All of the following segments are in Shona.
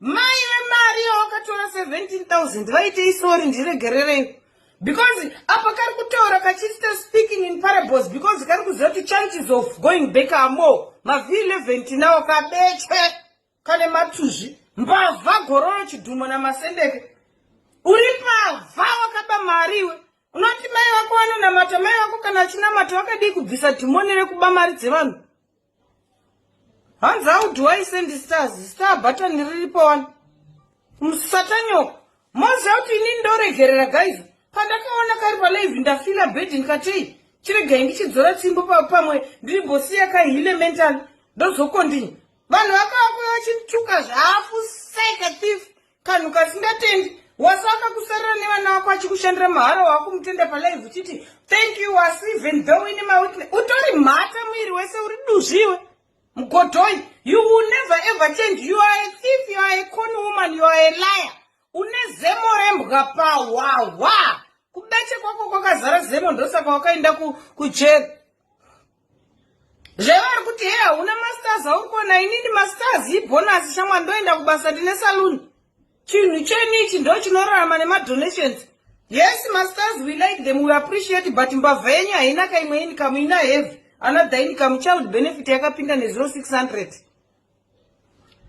Mai vemari yawakatora 17000 vaitei sorry ndiregererei because apa kari kutaura kachista speaking in parables because kari kuziva kuti chances of going back amo mavhi11 tinawo kabechwe kane matuzvi mbavha gororo chidhumo namasendeke uri mbavha wakaba mari iwe unoti mai vako vanonamata mai vako kana achinamata vakadii kubvisa dhimoni rekuba mari dzevanhu hanzi how do i send stars star button riripo wani musatanyoko moziva kuti inini ndoregerera guys pandakaona kari palive ndafila bed ndikatei chiregai ndichidzora tsimbo pamwe ndiri bosi yakahile mental ndozokondini vanhu vakavakuya vachituka zvafu sika thief kanhu kasingatendi wasi akakusarira nevana vako achikushandira mahara wakumutenda palive uchiti thank you wasi even though ine mawitness utori mhata muiri wese uri duzviwe mgodhoi you will never ever change you are a thief you are a con woman you are a liar une zemo rembwa pahwahwa kubeche kwako kwakazara zemo ndosaka wakaenda kujeri ku zvevari kuti hei hauna masters auri kuona inini masters ibhonasi shamwa ndoenda kubasa ndine saluni chinhu chenyu ichi ndo chinorarama nemadonations yes masters we like them we appreciate but mbavha yenyu haina ka imwe inikamu ina heavy another inikamu child benefit yakapinda nezero 600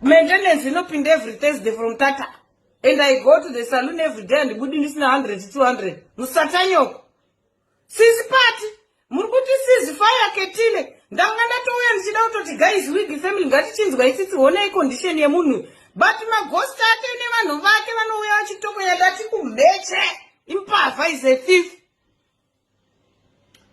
maintenance inopinda every thursday from tata and i go to the saloon every day andibudi ndisina 100 200 musatanyoko Sisi pati muri kuti sizi faya ketile ndanga ndatouya ndichida kutoti guys wig family ngatichinzwa isisi honai condition yemunhu but maghost ake nevanhu vake vanouya vachitokonya ndati kumheche impavha is a thief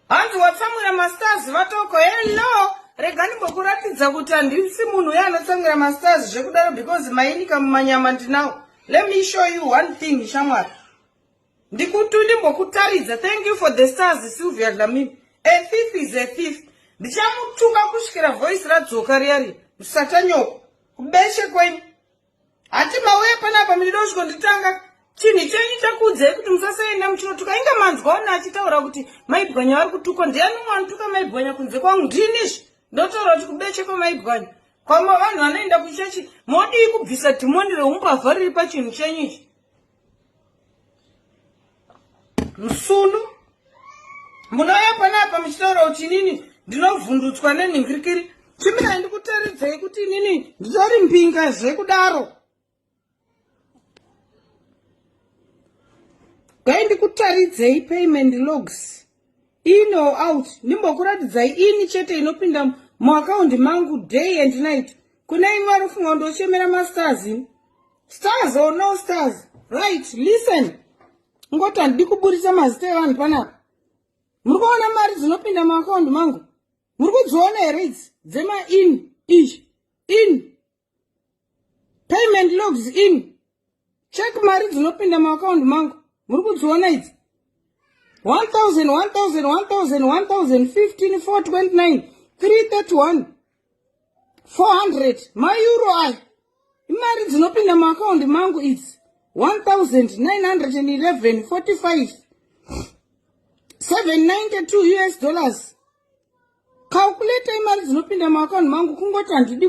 hanzi watsamwira mastars vatoko hello rega ndimbokuratidza kuti handisi munhu uye anotsamwira mastars zvekudaro because mainika mumanyama ndinawo let me show you one thing shamwari ndikutu ndimbokutaridza thank you for the stars sylvia dlamini a thief is a thief ndichamutuka kusvikira voice radzoka riyari musatanyoko kubeshe kwenyu hati mauye panapa minida usviko nditanga chinhu chenyu chakuudzai kuti musasaenda muchinotuka inga manzwa ona achitaura kuti maibwanya vari kutukwa ndiyani umwe anotuka maibwanya kunze kwangu ndiinizvi ndotaura kuti kubeche kwemaibwanya kwama vanhu vanoenda kuchechi modii kubvisa dhimoni reumbavha riri pachinhu chenyu ichi Rusunu munouya panapa muchitaurawo chinini ndinovhundutswa nenhingirikiri chimirai ndikutaridzei kuti inini nditori mbinga zvekudaro dai ndikutaridzei payment logs in or out ndimbokuratidzai ini chete inopinda muakaundi mangu day and night kuna imwe ari kufunga kundochemera mastars ini stars or no stars right listen ngoti handidi kuburitsa mazita evanhu panapa muri kuona mari dzinopinda muakaundi mangu muri kudziona here idzi dzemain izvi in payment logs in check mari dzinopinda maakaundi mangu muri kudziona idzi 1000 mauro aya imari dzinopinda maakaundi mangu idzi 1911 45 792 us dollars calculate imari dzinopinda maakaundi mangu kungoti handidi